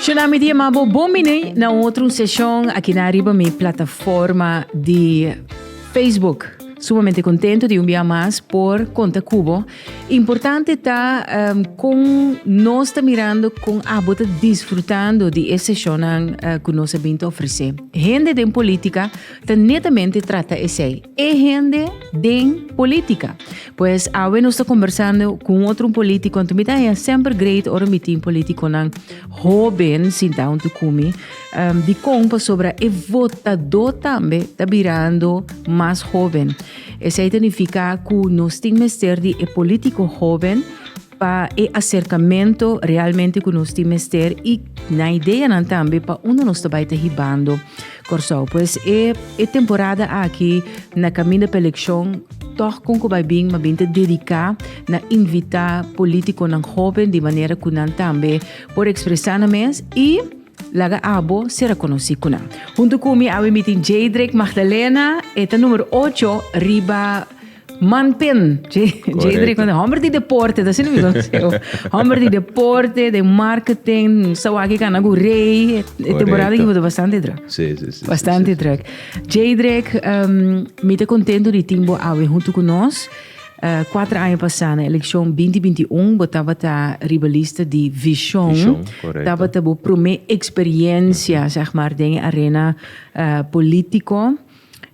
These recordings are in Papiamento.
Shela mi dia mabo bon bini na un otro sesión aquí na arriba mi plataforma di Facebook. Sumamente contento di un bia mas por conta cubo. Importante ta um, con nos ta mirando con abo ta disfrutando di e sesionan uh, eh, cu nos a binta ofrece. Hende den política ta netamente trata esei. E hende den política. Pues awe nos ta conversando con otro político, en tumita ya sempre great oro mitin político nan joven sin down to kumi, um, di compa sobra e votador tambe ta mirando mas joven. Esei ta nifiká ku nos tin mester di e polítiko hóben pa e aserkamentu realmente ku nos tin mester i nan ideanan tambe pa unda nos ta bai ta hibando Kòrsou. Pues e e temporada aki na kaminda pa elekshon tòg kon ku bai bin mabien ta dediká na invitá polítikonan hóben di manera ku nan tambe por ekspresá nan mes i Laga abo sera konosí ku nan. Huntu ku mi awe mi tin Jeidrek Magdalena, e ta numero ocho riba manpen. Jeidrek Magdalena, hòmber di deporte, ta así no mi konoseu. Hòmber di deporte, den marketing, sa wak kana ku rei, e temporada aki bo ta bastante drùk. Sí, sí, sí. Bastante drùk. Jeidrek, mi ta kontentu di tin bo awe huntu ku nos. Kuater aña pasá na elekshon binti binti i un bo tabata riba lista di Vishon. Tabata bo promé eksperiensia sèg mar den e arena polítiko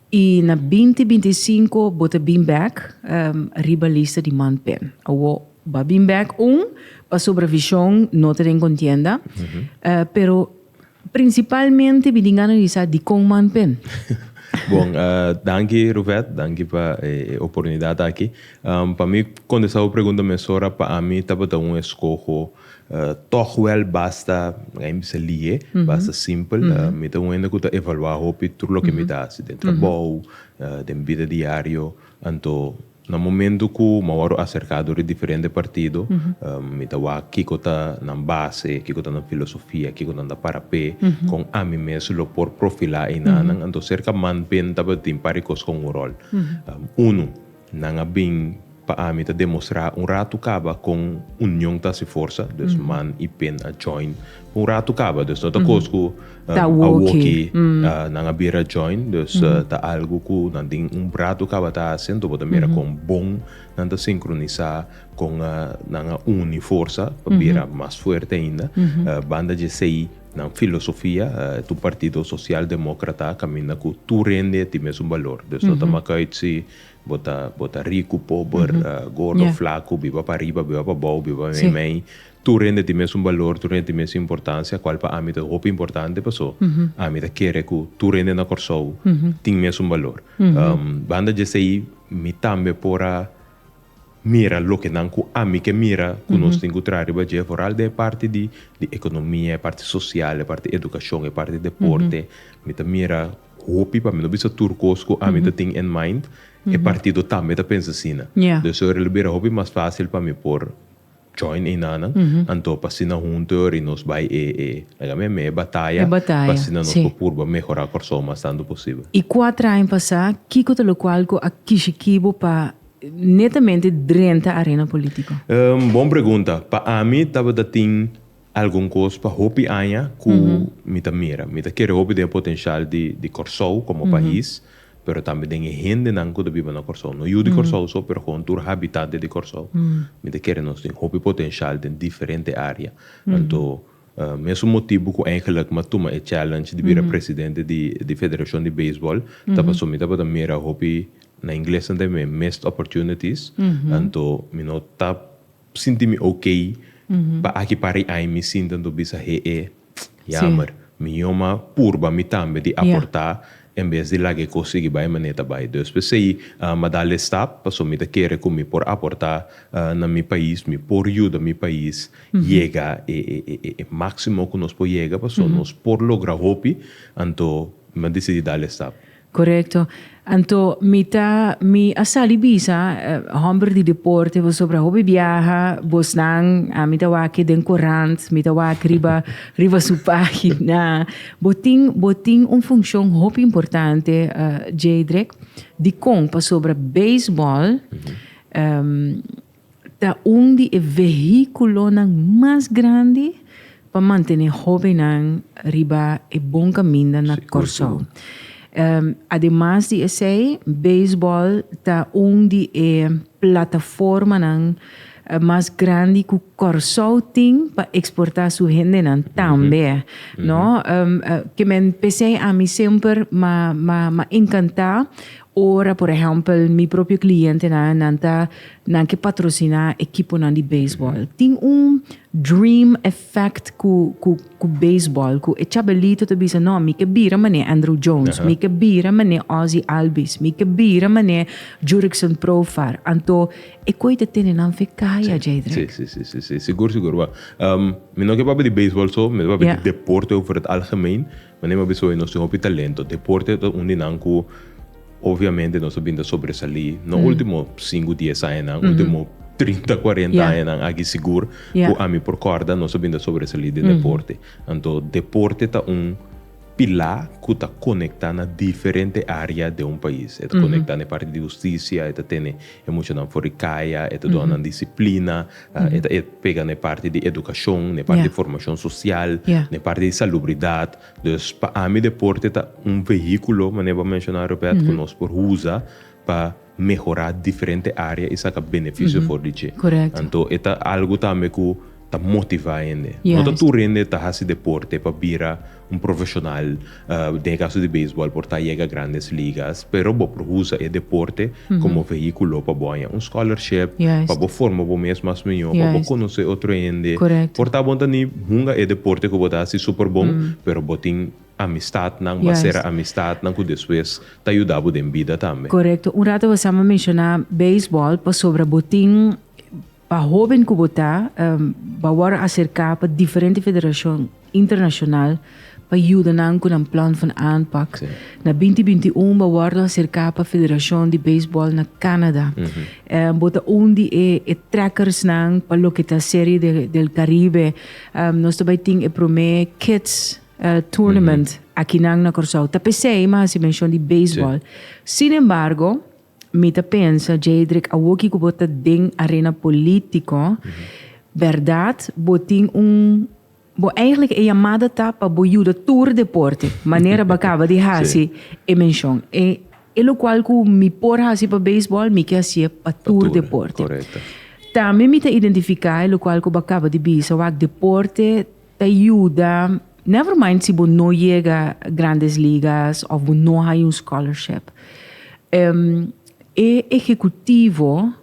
i na binti binti i sinku bo ta bin bèk riba lista di man pen. Awo bo a bin bèk un pasobra Vishon no ta den kontienda pero Principalmente mi tin gana di sa dicon man p'e. Bon, danki Ruvet, danki pa e oportunidad aki. Pa mi contesta bo pregunta mesora, pa ami tabata un escoho toch wel basta, mi a bisa lihe, basta simpel. Mi ta un hende cu ta evalua hopi tur loke mi ta haci den trabou, den bida diario, anto Na momento cu mi a worde acerca door e diferente partido, mi ta wak kico ta nan base, kico ta nan filosofia, kico nan ta para pe con ami mes lo por profila enanan. Anto cerca manpen tabatin un par di cos con un rol. Uno, nan a bin pa ami ta demostra un rato caba con union ta haci forsa, dus man y pen a join. Un ratu kaba dus no ta kos ku a woki nan a bira join dus ta algu ku nan tin un ratu kaba ta hasi anto bo ta mira kon bon nan ta sinkronisá kon nan a uni forsa pa bira mas fuerte ainda banda dje esei nan filosofia ta un partido sosial demókrata a kaminda ku tur hende a tin mesun balor dus no ta maka ut si bo ta bo ta riku pober gordo flaku biba pa riba biba pa bou biba meimei Tur hende tin mesun balor, tur hende tin mesun importansia, kual pa ami ta hopi importante paso ami ta kere ku tur hende na Kòrsou tin mesun balor. Banda djesei mi tambe por a mira loke nan ku ami ke mira ku nos tin ku traha riba dje, foral den e parti di ekonomia, e parti sosial, e parti edukashon, e parti deporte, mi ta mira hopi, pa mi no bisa tur kos ku ami ta tin en mind, e partido tambe ta pensa asina. Dor esei ora lo bira hopi mas fásil pa mi por Join enanan, anto pa asina hunto e ora y nos bay e e laga me me e bataya pa asina nos por purba mehora Corsou mas tanto posibel. Y cuatra aña pasa, kico ta locual cu a kishi kibo pa netamente drenta arena politico? Bon pregunta. Pa ami tabata tin. Algun cos pa hopi aña cu mi ta mira. Mi ta kere hopi den e potencial di Corsou como pais, pero tambe den e hendenan cu ta biba na Corsou. No yu di Corsou so, pero gewoon tur habitante di Corsou. Mi ta kere nos tin hopi potencial den diferente area. Anto, mesun motibu cu eigenlijk mi a tuma e challenge di bira presidente di Federacion di Baseball, ta pasobra mi tabata mira hopi, na Ingles nan ta biba missed opportunities, anto mi no ta sinti mi ok pa aki pari ai mi sinta nto bisa he'e yamer mi yoma purba mi tambe di aporta en bes di laga e kos sigui bai manera e ta bai dus p'e sei m'ha da less stap paso mi ta kere ku mi por aporta na mi pais mi por yuda mi pais yega e maximo ku nos por yega paso nos por logra hopi anto mi a disidi da less stap. Korekto. Anto mi ta mi a sali bisa hòmber di deporte pasobra hopi biaha bosnan a mi ta wak den korant mi ta wak riba riba su página bo tin bo tin un funshon hopi importante Djadrick dikon pasobra beisbòl ta un di e vehiculonan mas grandi pa mantene hobennan riba e bon caminda na Corsou. Ademas di esey, baseball ta un di e plataformanan mas grandi cu Corsou tin pa exporta su hendenan tambe, no. Ke men pesey ami semper ma encanta Ora, por ehèmpel, mi propio klientenan nan ta nan ke patrosiná ekiponan di beisbòl, tin un dream effect ku ku ku beisbòl, ku e chabelito ta bisa, No, mi ke bira manera Andruw Jones, mi ke bira manera Ozzie Albies, mi ke bira manera Jurickson Profar. Anto e koe ta tene nan fe kaya, Jadrick. Sí, sí, sí, sí. Sigur, sigur. Wèl, mi no ke papia di beisbòl so, mi ta papia di deporte over het algemeen. Manera mi a bisa hopi, nos tin hopi talento. Deporte ta un di nan cu obviamente nos a bin ta sobresalí, no ultimo cincu, dies añanan, ultimo trinta, cuarenta añanan aki sigur cu ami por corda nos a bin ta sobresalí den deporte. Anto deporte ta un pilá cu ta conectá na diferente area den un pais. E ta conectá na e parti di husticia, e ta tene e muchanan for di caya, e ta duanan disciplina. E ta pega na e parti di edukashon, na e parti di formashon sosial, na e parti di salubridat. Dus pa ami deporte ta un vehíkulo, manera bo a menshoná Robèrt, ku nos por usa pa mehorá diferente área i saka benefisio for di dje. Anto e ta algu tambe ku ta motivá hende. No ta tur hende ta hasi deporte pa bira. Un profesional den e kaso di beisbòl por ta yega Grandes Ligas, pero bo por usa e deporte komo vehíkulo pa bo haña un scholarship, pa bo forma bo mes mas mihó, pa bo konosé otro hende. Por ta bo ta ni hunga e deporte ku bo ta hasi super bon, pero bo tin amistatnan, mas sera amistatnan ku despues ta yuda bo den bida tambe. Korekto. Un rato bo staba menshoná beisbòl pasobra bo tin Pa hoben ku bo ta, bo a wòrdu aserká pa diferente federashon internashonal pa yuda nan ku nan plan van aanpak. Na binti binti un bo a wòrdu aserká pa Federashon di Beisbòl na Kanada. Bo ta un di e e trekersnan pa loke ta Serie de del Karibe. Nos ta bai tin e promé kids tournament akinan na Kòrsou. Ta p'esei mi a hasi menshon di beisbòl. Sin embargo, Mi ta pensa Jeidrek awor kico bo ta den arena politico berdad bo tin un bo eigenlijk e llamada ta pa bo yuda tur deporte manera bo a caba di haci e mencion e e locual cu mi por haci pa baseball mi ke haci'e pa tur deporte tambe mi ta identifica e locual cu bo a caba di bisa wak deporte Ta yuda, never mind si bo no yega Grandes Ligas of bo no haya un scholarship. E ehecutivo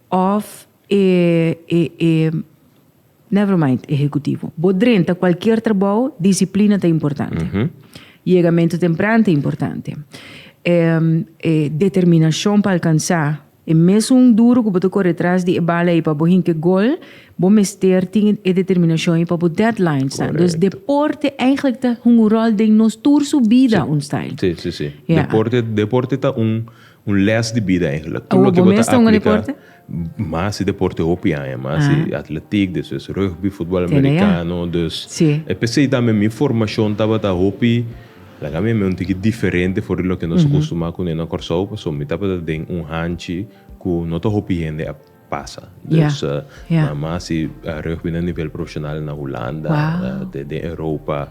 of e e never mind ehecutivo. Bo drenta cualkier trabao, disciplina ta importante. Yegamento tempran ta importante. Determinacion pa alcansa E mes un duru ku bo ta kore tras di e bala ei pa bo hinte gol, bo mester tin e determinashon ei pa bo deadlines ta. Dus deporte eigenlijk ta hunga un ròl den nos tur su bida un style. Sí, sí, sí. Deporte, deporte ta un un lès di bida eigenlijk. Tur loke bo ta aplika Mas di deporte hopi aña, mas di atletiek, despues rugby, futbòl amerikano. Dus e p'esei tambe mi formashon tabata hopi. Nan a mi mi un tiki diferente for di loke nos a custumá cune na Corsou, pasobra mi tabata den un hanchi cu no ta hopi hende a pasa. Dus nan mas si reuch bida nivel profesional na Hulanda, den Europa.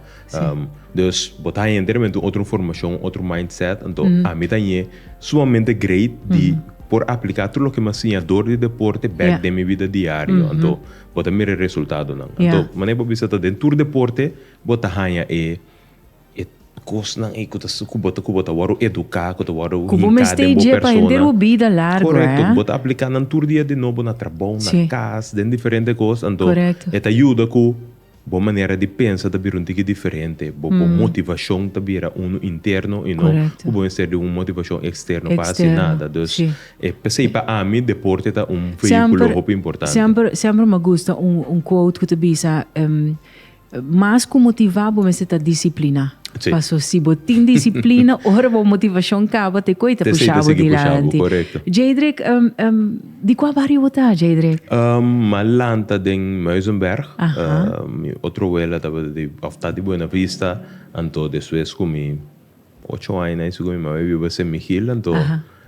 Dus bo ta haña enteramente un otro informacion, otro mindset. Anto a mi ta ñe sumamente great di por aplicá tur loke mi a siña dor di deporte bek den mi bida diario. Anto bo ta mira e resultadonan. Anto manera bo bisa ta den tur deporte bo ta haña e. E kosnan ei ku ta su ku bo ta ku bo ta wòrdu eduká, ku ta wòrdu hinká den bo persona. Ku bo mester i dje pa henter bo bida largu, he? Korekto. Ku bo ta apliká nan tur dia di nobo na trabou, na kas, den diferente kos, anto e ta yuda ku bo manera di pensa ta bira un tiki diferente. Bo bo motivashon ta bira unu interno i no ku bo mester di un motivashon eksterno pa hasi nada. Dus, e p'esei pa ami deporte ta un veíkulo hopi importante. Semper, semper mi a gusta un quote ku ta bisa, Mas ku motivá bo mester ta disipliná. Paso si bo tin disiplina ora bo motivashon kaba te koi ta pushá bo di lanti. Jeidrek, di kua bario bo ta, Jeidrek? M'a lanta den Muizenberg. Mi otro wela tabata di, òf ta di Buenavista, anto despues ku mi. Ocho aña na e suga mi mama a biba Sen Mihil, anto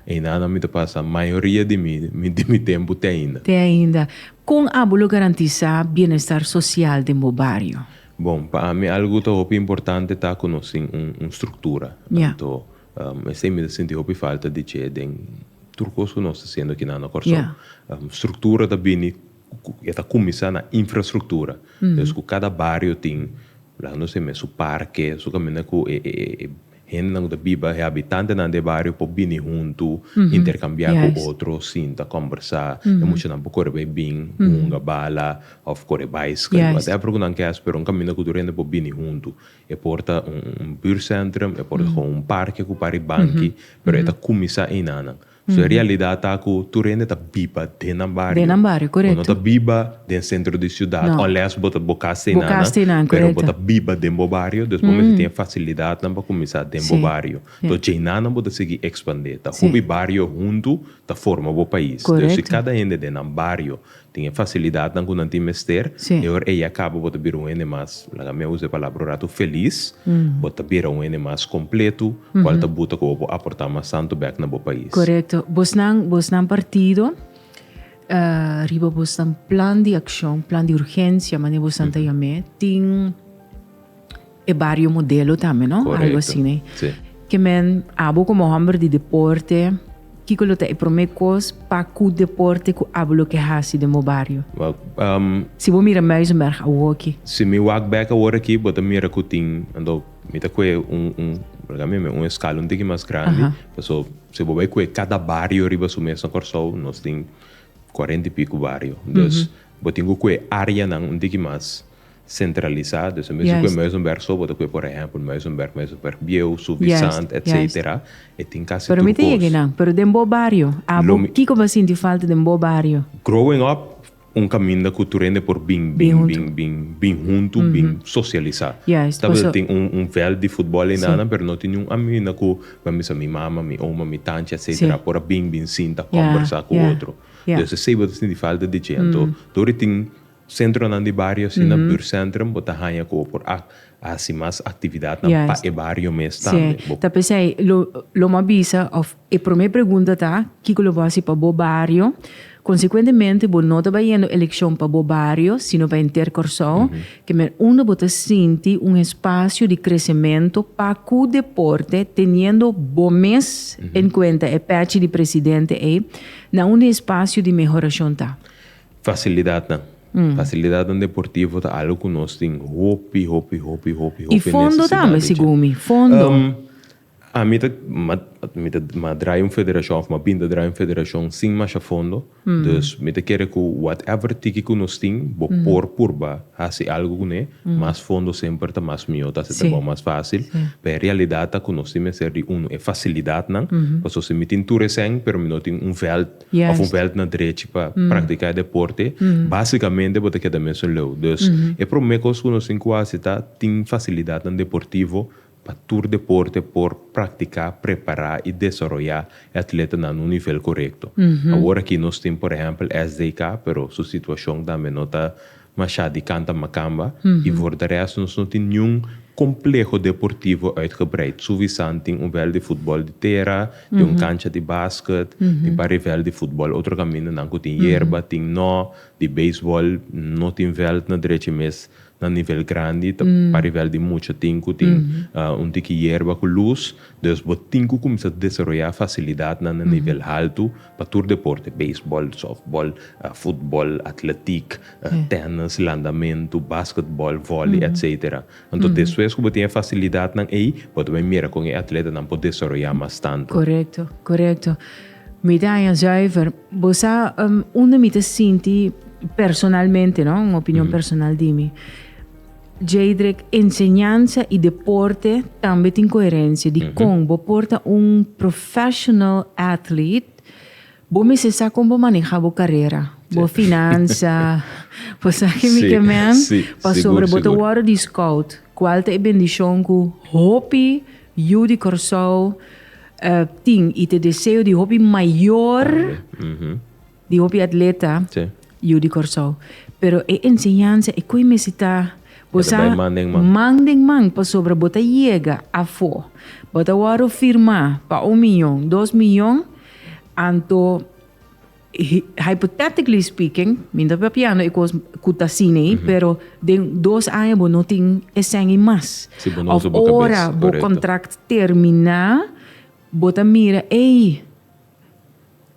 eindá nan mi ta pasa mayoria di mi di mi tempu te ainda. Te ainda. Kon abo lo garantisá bienestar sosial den bo bario? Bon, pa ami algu ku ta hopi importante ta ku nos tin un un struktura. Anto esei mi ta sinti hopi falta di dje den tur kos ku nos ta hasiendo kinan na Kòrsou. Struktura ta bini. E ta kuminsá na infrastruktura. Des ku kada bario tin laga nos e mes su parke, su kaminda ku e hendenan ku ta biba, e habitantenan di e bario por bini huntu, interkambiá ku otro, sinta, kòmbersá. E muchanan por kore bai bin, hunga, bala òf kore baiskèl, whatever ku nan ke hasi, pero un kaminda ku tur hende por bini huntu. E por ta un buurtsentrum, e por ta un parke ku parí banki, pero e ta kuminsá einanan. So e realidat ta ku tur hende ta biba den nan bario. Den nan bario, korekto. Bo no ta biba den sentro di siudat. No. Unless bo ta bo kas te nan. Bo kas te nan, korekto. Pero bo ta biba den bo bario, dus bo mester tin e fasilidatnan pa kuminsá den bo bario. Si, si. To djeinan nan bo ta sigui ekspandé. Ta hopi bario huntu ta forma bo pais. Korekto. Entonces si kada hende den nan bario Tin e facilidadnan cu nan tin mester. E ora ey a caba bo ta bira un hende mas, laga mi a usa e palabra un ratu, feliz. Bo ta bira un hende mas completo, cual ta buta cu bo por aporta mas tanto bek na bo pais. Corecto. Bosnan, bosnan partido, riba bosnan plan di accion, plan di urgencia, manera bosnan ta yam'e, tin. E bario modelo tambe no? Correcto. Algo asine. Sí. Ke men abo como homber di deporte, kiko lo ta e prome kos pa ku deporte ku abo lo ke hasi den bo bario? Wel, ehm, Si bo mira Muizenberg awoki. si mi wak bek awor aki, bo ta mira ku tin, anto mi ta kue un, un, por ejemplo, mi, un eskala un tiki mas grandi, Aha. paso si bo bai kue kada bario riba su mes na Kòrsou, nos tin cuarenta i piku bario. Dus, bo tin ku kue áreanan un tiki mas. centralisa dus e mesun ku e mesun bèrk so bo ta kue por ehèmpel mesun bèrk mesun bèrk bieu suvisant etsetera e tin kasi tur kos lo mi growing up un kaminda ku tur hende por bin bin bin bin bin huntu bin sosialisa tabata ta tin un vèlt di futbòl ei nan nan pero no tin niun aminda ku mi a misa mi mama mi oma mi tanchi etsetera por a bin bin sinta kòmbersa ku otro dus esei bo ta sinti falta di dje anto tur i tin. Sentronan di bario asina buurtcentrum bo ta haña cu bo por a hasi mas actividadnan pa e bario mes tambe. Bo. Ta p'esei lo lo m'a bisa of e prome pregunta ta kico lo bo hasi pa bo bario. Consecuentemente bo no ta bayendo eleccion pa bo bario sino pa enter Corsou ke men unda bo ta sinti un espacio di crecemento pa cu deporte teniendo bo mes en cuenta e patch di presidente ei na unda e espacio di mehoracion ta. Facilidadnan. Facilidadnan deportivo ta algo cu nos tin hopi, hopi, hopi, hopi, hopi necesidad. Y fondo tambe, segun mi. Fondo. Ami ta, mi ta ma draai un federacion, of ma bin ta draai un federacion sin masha fondo. Dus mi ta kere cu whatever tiki cu nos tin, bo por purba haci algo cu ne. Mas fondo semper ta mas miyo, ta haci trabao mas facil. Pero e realidad ta cu nos tin mester di, uno, e facilidadnan. Pasobra si mi tin tur esei, pero mi no tin un veld of un bèlt na drechi pa praktiká e deporte, básikamente bo ta keda mesun leu. Dus, e promé kos ku nos tin ku hasi ta tin fasilidatnan deportivo pa tur deporte por praktiká, prepará i desaroyá e atletanan na un nivel korekto. Awor akí nos tin, por ehèmpel, SDK, pero su situashon tambe no ta Mashá di kanta makamba i for de rèst nos no tin niun kompleho deportivo uitgebreid. Suvisan tin un vèlt di futbòl di tera, tin un kancha di basket, tin pari vèlt di futbòl. Otro kamindanan ku tin yerba tin nò. Di beisbòl no tin vèlt na drechi mes na nivel grandi. Ta pari vèlt di mucha tin ku tin un tiki yerba ku lus. Dus bo tin ku kuminsá desaroyá fasilidatnan na nivel haltu Pa tur deporte, beisbòl, sòftbòl, futbòl, atletik, tènis, landamentu, basketbòl, vòlei, etcetera. Anto despues ku bo tin e fasilidatnan ei, bo ta bin mira kon e atletanan por desaroyá mas tantu. Korekto, korekto. Mi ta haña zùiver. Bo sa unda mi ta sinti personalmente, no? Un opinion personal di mi. Jeidrek, Enseñansa i deporte tambe tin koherensia. Dikon bo por ta un professional athlete? Bo mester sa kon bo maneha bo karera, bo finansa, bo sa ke mi ke men, pasobra bo ta wòrdu di scout, kual ta e bendishon ku hopi yu di Kòrsou tin i ta e deseo di hopi mayor. Di hopi atleta yu di Kòrsou. Pero e enseñansa, e ku e mester ta bo sa man den man pasobra bo ta yega afó. Bo ta wòrdu firmá pa un miyon, dos miyon, anto hypothetically speaking, mi no ta papiando e kos ku ta asina ei, pero den dos aña bo no tin e sèn ei mas. Òf ora bo kontrakt terminá, bo ta mira, ey.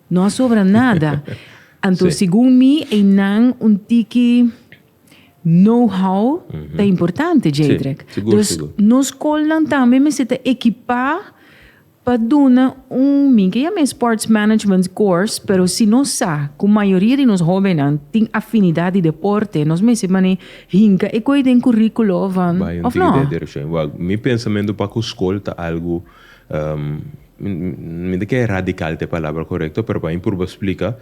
No a sobra nada. Anto segun mi einan un tiki know-how ta importante, Jadrick. Dus nos scolnan tambe mester ta ekipa pa duna un, mi ke yama e sports management course, pero si nos sa ku mayoria di nos hóbennan tin afinidat di deporte, nos mester manera hinka e koi den kuríkulo van, òf no? Mi pensamentu pa ku skol ta algu. Mi no ta kere radical ta e palabra korekto pero pa mi purba splika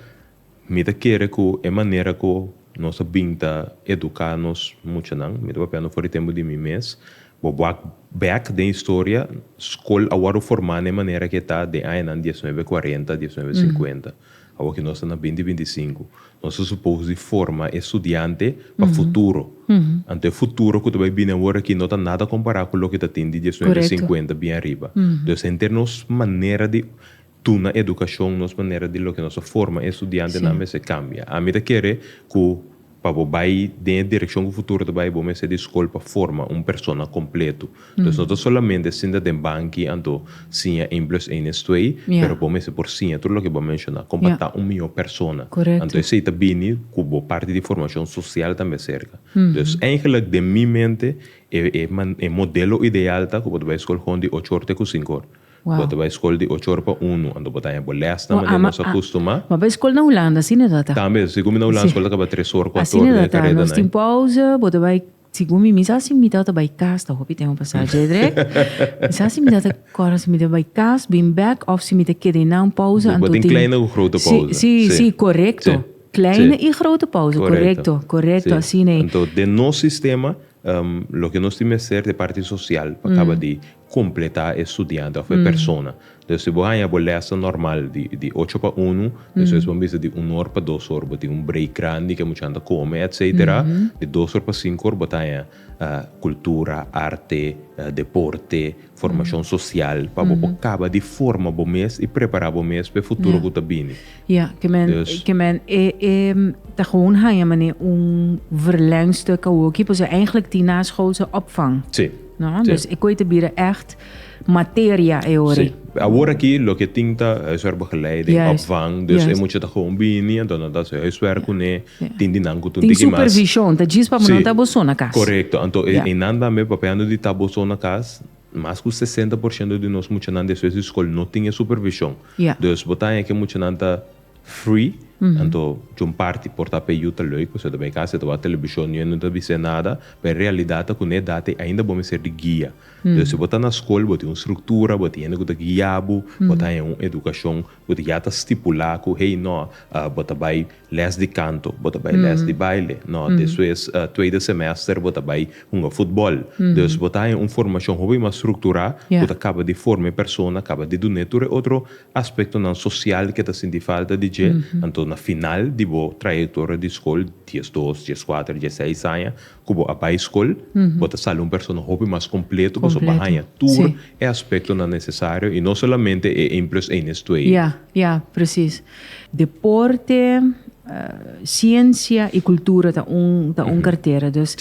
mi ta kere ku e manera ku nos a bin ta eduká nos muchanan mi ta papia no for di tempu di mi mes bo wak bèk den historia skol a wòrdu formá na e manera ku e ta den añanan diesnuebe kuarenta diesnuebe sinkuenta Awa ke nos ta na binti binti sinku, nos ta supos di forma e studiante pa futuro. Anto e futuro ku ta bai bini awor aki no ta nada kompará ku loke ta tin di diesnuebe sinkuenta bien ariba. Entonces henter nos manera di duna edukashon, nos manera di loke nos ta forma e studiantenan mester kambia. Ami ta kere ku Pa bo bai den e direkshon ku futuro ta bai, bo mester di skol pa forma un persona kompletu. Entonces no ta solamente sinta den banki anto siña ein blus ein nes twee, pero bo mester por siña tur loke bo a menshoná kon pa ta un mihó persona. Anto esei ta bini ku bo parti di formashon sosial tambe serka. Dus eigelik den mi mente e modelo ideal ta ku bo ta bai skol houn di ocho or te ku sinku or. Bo ta bai skol di ocho ora pa unu, anto bo ta haña bo lès na manera nos a kustumá. Bo a bai skol na Hulanda, asina ta ta. Tambe, si kumi na Hulanda skol ta kaba tres ora, kuatu ora den e kareta nai. Asina ta ta, nos tin pòuze, bo ta bai, si kumi mi sa si mi tata bai kas, ta hopi tempu pa sa dje drèk, mi sa si mi tata kòrda si mi ta bai kas, bin bèk òf si mi ta keda einan pòuze, anto tin. Bo tin kleine ku grote pòuze. Si, si, si, korekto. Kleine i grote pòuze, korekto, korekto, asina i. Anto den nos sistema, loke nos tin mester, e parti sosial pa kaba di completá e studiante of e persona. Entonces si bo haña bo lèssen normal di di ocho pa unu, despues bo a bisa di un or pa dos or bo tin un break grandi ke muchanan ta come etcetera, di dos or pa cinco or bo ta haña cultura, arte, deporte, formacion social pa bo por caba di forma bo mes y prepara bo mes pa e futuro cu ta bini. Ja, ke men, yes. ke men e, e, ta gewoon haya mane un verlengstuk awoki, pues eigenlijk die naschoolse opvang. Sí. No? Sí. Dus ik weet te bieden echt materia eori. Sí. Ahora aquí lo que tinta es er begeleiding, yes. opvang, dus yes. e moet je toch gewoon bini, en dan dat ze huiswerk kunnen, yeah. yeah. tin die nanko toen die mas. supervision, dat jis pa monon tabo zona kas. Correcto, anto yeah. e, e nan dan me papeando die tabo zona kas, Mas ku sesenta por shento di nos muchanan di eswes di skol no tin e supervishon. Dus bo ta haña ku e muchanan ta free, anto djon parti por ta p'e yu ta lei, ku se ta bai kas, se ta wak telebishon, niño no ta bis'é nada, pa e realidat ta ku n'e edat ei ainda bo mester di guia. Dus si bo ta na skol, bo tin un struktura, bo tin hende ku ta guia bo, bo ta haña un edukashon ku ta ya ta stipulá ku hey, nò, bo ta bai, Les di kanto, bo ta bai les di baile. No, despues tweede semester bo ta bai hunga futbòl. Dus bo ta haña un formashon hopi mas strukturá ku ta kaba di forma e persona, kaba di dun'é tur e otro aspektonan sosial ku e ta sinti falta di dje. Anto na final di bo trayektoria di skol, diesdos, dieskuater, dieseis aña, Ku bo a bai skol, bo ta sali un persona hopi mas kompleto pasobra bo a haña tur e aspektonan nesesario i no solamente e één plus één es twee. Ya, ya, presis. Deporte, siensia i kultura ta un ta un kartera. Dus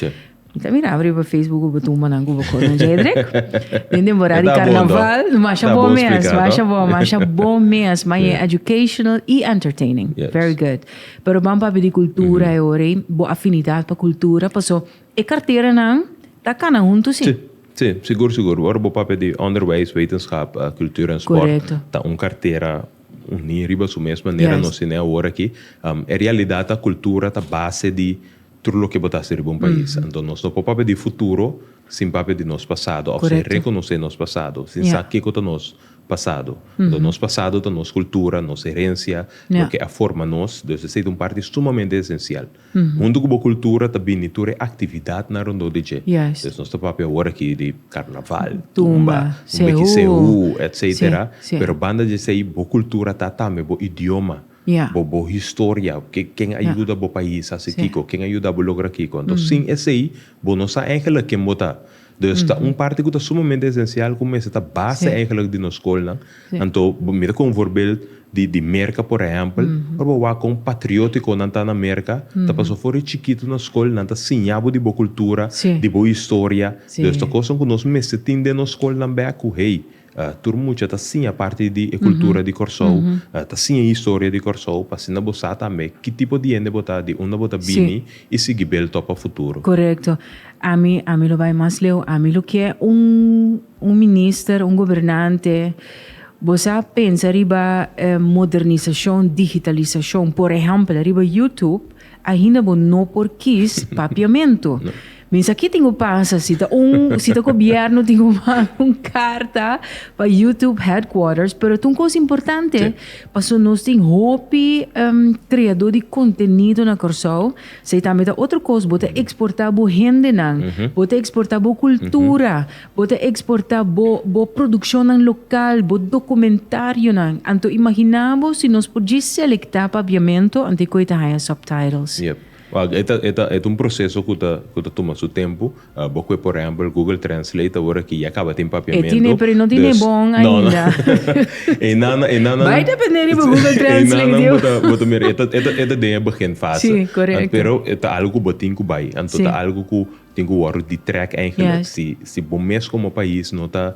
mi ta miraba riba Facebook ku bo tumbanan ku bo kono Jedrick. Den temporada di karnaval, masha bon mes, masha bon, masha bon mes. Maya e educational i entertaining. Very good. Pero ban papi di cultura e ora bo afinidad pa cultura, paso e carteranan ta cana hunto si. Sí. Sí, sigur, sigur. Ora bo papia di onderwijs, wetenschap, uh, cultuur en sport, Correcto. ta un cartera uní riba su mes manera Yes. nos tiene ahora aquí. Um, e realidad ta cultura ta base di tur loke bo ta haci riba un país. Anto nos no por papia di futuro sin papia di nos pasado, of sin Correcto. reconoce nos pasado, sin Yeah. sa kico ta nos pasado. Anto nos pasado ta nos cultura, nos herencia, loke a forma nos, dus esei ta un parti sumamente esencial. Huntu ku bo cultura ta bini tur e actividadnan rondó di dje. Dus nos ta papia awor aki di carnaval, tumba, un biki sehu, etc. Pero banda di esei bo cultura ta tambe bo idioma. bo bo historia, ke ken a yuda bo pais hasi kiko, ken a yuda bo logra kiko. Enton sin esei bo no sa eigenlijk ken bo ta. Dus ta un parti ku ta sumamente esencial ku mester ta base eigenlijk di nos skolnan. Anto bo mira kon voorbeeld di di Merka por ehempel, ora bo wak kon patriotiko nan ta na Merka, ta paso for di chikito na skol nan ta siña bo di bo kultura, di bo historia. Dus ta kosnan ku nos mester tin den nos skolnan bek ku hey, Tur mucha ta siña parti di e kultura di Kòrsou, ta siña e historia di Kòrsou pa asina bo sa tambe ki tipo di hende bo ta, di unda bo ta bini i sigui beltop pa futuro. Korekto. Ami, ami lo bai mas leu, ami lo ke un, un minister, un gobernante. Bo sa pensa riba modernisashon, digitalisashon, por ehèmpel riba YouTube. Ainda bo no por kies papiamento. Minsaki tin ku pasa si ta un si ta gobierno tin ku manda un karta pa YouTube headquarters pero ta un kos importante paso nos tin hopi kreadó di kontenido na Kòrsou esei tambe ta otro kos bo ta eksportá bo hendenan bo ta eksportá bo kultura. Bo ta eksportá bo bo produkshonnan lokal, bo dokumentarionan. Anto imaginá bo si nos por dje selektá pabiamentu antes ku e ta haña subtitles? Yep. Wak, e ta e ta e ta un proseso ku ta ku ta tuma su tempu. Bo kue por ehèmpel Google Translate awor ki ya kaba tin papiamentu. E tine, pero e no tine e bon ainda. E nannan e nannan. Bai dependé riba Google Translate, yu. E nannan bo ta bo ta Tin ku wòrdu di trèk èigelik si bo mes komo pais no ta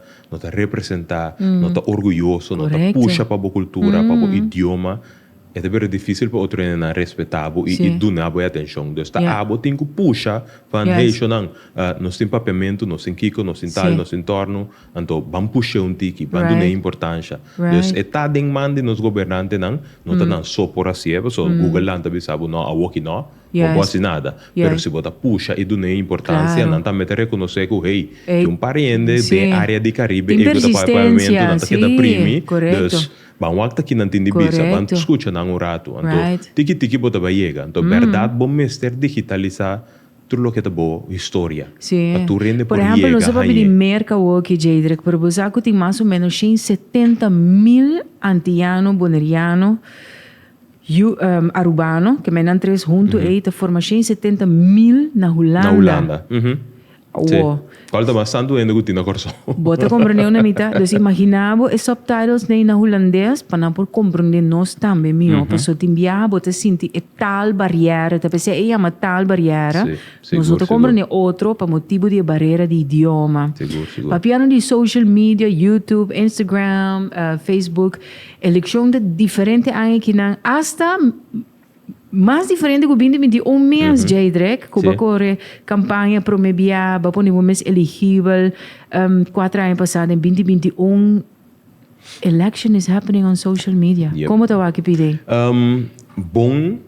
representá, no ta orguyoso, no ta pusha pa bo kultura, pa bo idioma, e ta bira difísil pa otro hendenan respetá bo i duna bo e atenshon. Dus ta abo tin ku pusha pa neishonan, nos tin papiamentu, nos tin kiko, nos tin tal, nos tin tòrnu, anto ban push'é un tiki, ban dun'é importansha. Dus e ta den man di nos gobernantenan, no ta nan so por hasié, pasobra Google lanta bisa bo, nò, awoki nò. bo bo haci nada, pero si bo ta pusha y duna e importancia nan tambe ta reconoce cu hey, tin un par hende den e area di Caribe ey cu ta paga pagamentu, nan ta keda primi, dus ban wak ta kinan tin di bisa, ban scucha nan un ratu, anto tiki tiki bo ta bay yega, anto berdad bo mester digitaliza tur loke ta bo historia pa tur hende por yega. Yu Arubano, ke menan tres huntu ei ta forma shen i setenta mil na Hulanda. Na Hulanda, uhum. Awo. Si. Kòl ta mas santu hende ku tin na Kòrsou? Bo ta komprendé una mita? Dus imaginá bo e subtitles nei na Hulandes pa nan por komprendé nos tambe mihó. Paso tin biaha bo ta sinti e taal barièra, ta pesei e yama taal barièra. Si, sigur, Nos no ta komprendé sigur. otro pa motibu di e barera di idioma. Sigur, sigur. Papiando di social media, YouTube, Instagram, eh, Facebook, Eleccion de diferente aña ekinan hasta mas diferente cu bindi binti un mes djei drek cu ba core campaña prome bia ba pone bo mes eligibel cuatro aña pasa den binti binti un election is happening on social media como ta wak e pide? Bon.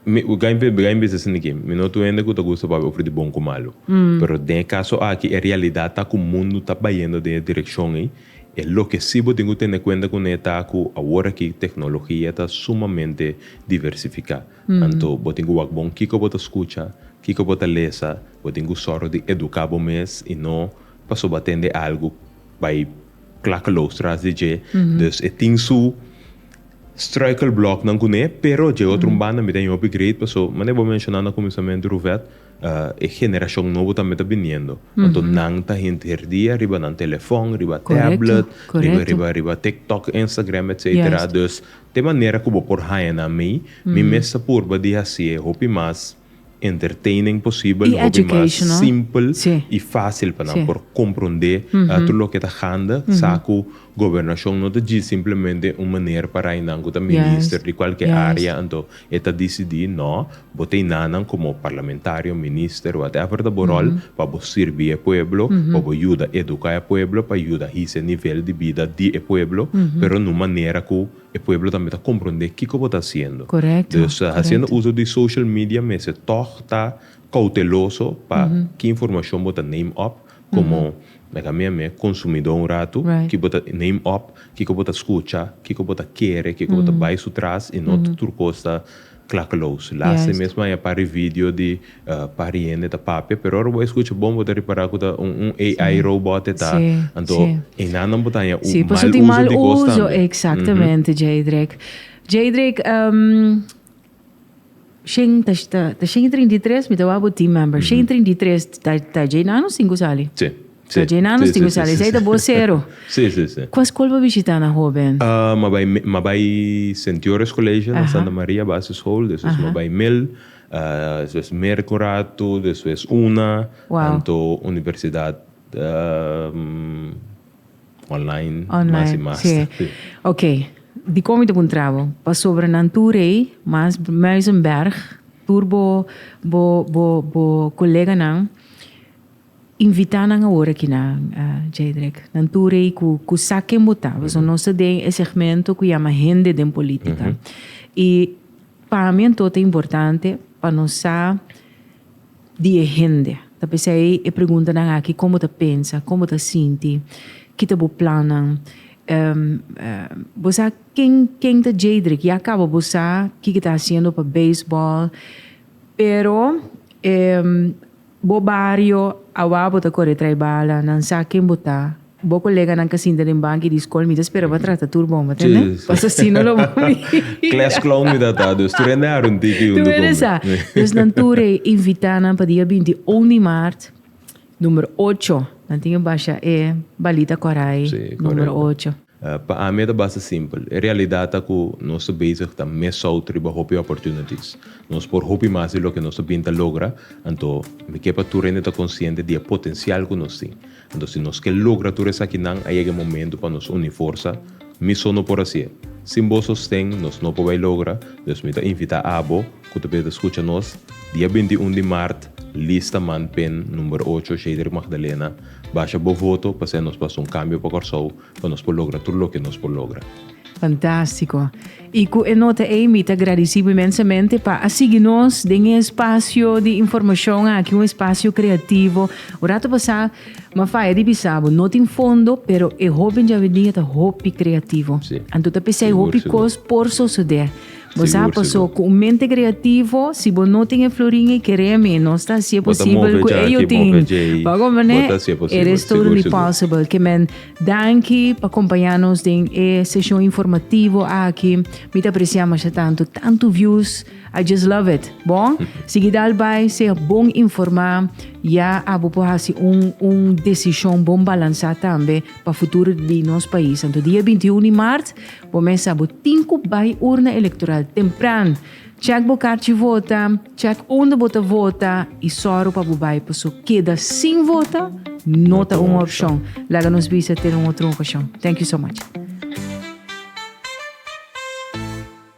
Mi ku Gain Pil Gain bisa esei niki, mi no tur hende ku ta gusta pa habia ofri di bon ku malu. Pero den e kaso aki e realidat ta ku mundu ta bayendo den e direkshon ei, e loke si bo tin ku tene kuenta ku ne ta ku aworaki teknologia ta sumamente diversifiká. Anto bo tin ku wak bon kiko bo ta skucha, kiko bo ta lesa, bo tin ku sòru di eduká bo mes i no pasobra tende algu bai klakeloos tras di dje, dus e tin su. Struikelbloknan kuné, pero dje otro un banda mi ta bin hopi great paso manera bo menshoná na kuminsamentu Ruvet e generashon nobo tambe ta biniendo anto nan ta hint herdia riba nan telefòn, riba tablet, riba riba riba tiktok, instagram etcetera. Dus te manera ku bo por haña nan mi, mi mes ta purba di hasié hopi mas. Entertaining posibel, un hopi mas simpel i fásil pa nan por komprondé tur loke ta handa, sa ku gobernashon no ta djis simplemente un maner pa rainan ku ta minister di kualke área anto e ta disidí. No, bo ta inanan komo parlamentario, minister, whatever ta bo ròl, pa bo sirbi e pueblo, pa bo yuda eduká e pueblo, pa yuda hise nivel di bida di e pueblo, pero na un manera ku. E pueblo tambe ta comprende kico bo ta haciendo. Dus haciendo uso di social media mester tog ta cauteloso pa ki informacion bo ta name up como mehkamia meh consumidor un rato, ki bo ta name up, kico bo ta scucha, kico bo ta kere, kico bo ta bay su tras y no tur cos ta Klakeloos. Last e mes maya pari video di pari hende ta papia pero ora bo a escucha bon bo ta repara cu ta un un AI robot e ta anto e nannan bo ta haña un mal uso di cos tambe. Si pasobra tin mal uso exactamente Jeidrek. Jeidrek shen ta shen y trinta y tres mi ta waw bo team member shen y trinta y tres ta djey nan o cinco sali? Si. Lo djena nos tin kushal, esei ta bosero. Kua skol bo bishitá na hóben? Ma bai ma bai Sentiores Colegio na Santa Maria Basisschool, despues ma bai mil, despues Mercurato, despues una, anto Universidad online mas i mas. Ok, dikon mi ta puntra bo? Pasobra nan tur ei, mas Muizenberg, tur bo bo bo bo koleganan, Invita nan awor akina, Jedrick. Nan tur ei ku ku sa ken bo ta. Paso nos ta den e segmento ku yama Hende den Politika. I pa mi anto ta importante pa nos sa di e hende. Ta p'esei e preguntanan aki, kon bo ta pensa, kon bo ta sinti, ki ta bo plannan. Bo sa ken ken ta Jedrick? Ya kaba bo sa kiko ta hasiendo pa beisbòl, pero Bo bario, awa bo ta kore trai bala, nan sa ken bo ta. Bo koleganan ka sinta den banki di skol, mi ta spera pa trata tur bon, bo tende? Pas así no lo bo a mi. Klas clown mi ta ta, dus tur hende a runti ki huntu ku mi. Dus nan tur e invitá nan pa dia binti un di maart, numero ocho. Nan tin e basha e balita kòrei, numero ocho. Pa ami e ta basta simpel. E realidad ta cu nos ta bezig ta miss-out riba hopi opportunities. Nos por hopi mas di loke nos ta bin ta logra, anto mi ke pa tur hende ta consciente di e potencial cu nos tin. Anto si nos ke logra tur esakinan a yega e momento pa nos uni forsa. Mi so no por haci'e. Sin bo sosten nos no por bay logra, dus mi ta invita abo, ku ta bira ta skucha nos dia binti i un di mart lista man pen number ocho Shedrick Magdalena basha bo voto pa ser nos pasa un kambio pa Kòrsou pa nos por logra tur loke nos por logra. Fantástiko. I ku e nota ei mi ta gradisí mi mensamente pa a sigui nos den e spasio di informashon aki, un spasio kreativo. Un ratu pasá mi a faya di bisa bo, no tin fondo, pero e hopi djavedia ta hopi kreativo. Sí. Anto ta p'esei hopi kos por sosodé. Bo sa paso cu un mente creativo, si bo no tin e florin y kere a menos, ta hacié posibel cu e yo tin. Pago mane, e res todo di possible. Ke men, danki pa compaña nos den e session informativo aki. Mi ta aprecia masha tanto, tanto views, I just love it. Bon, sigui dal bay, sea bon informa, ya abo por haci un, un decision bon balansa tambe pa futuro di nos pais. Anto dia binti unu di mart, Bo mesa bo tin ku bai urna elektoral tempran. Chèk bo karchi vota, chèk unda bo ta vota i sòru pa bo bai paso keda sin vota no ta un opshon. Laga nos bisa te un otro okashon. Thank you so much.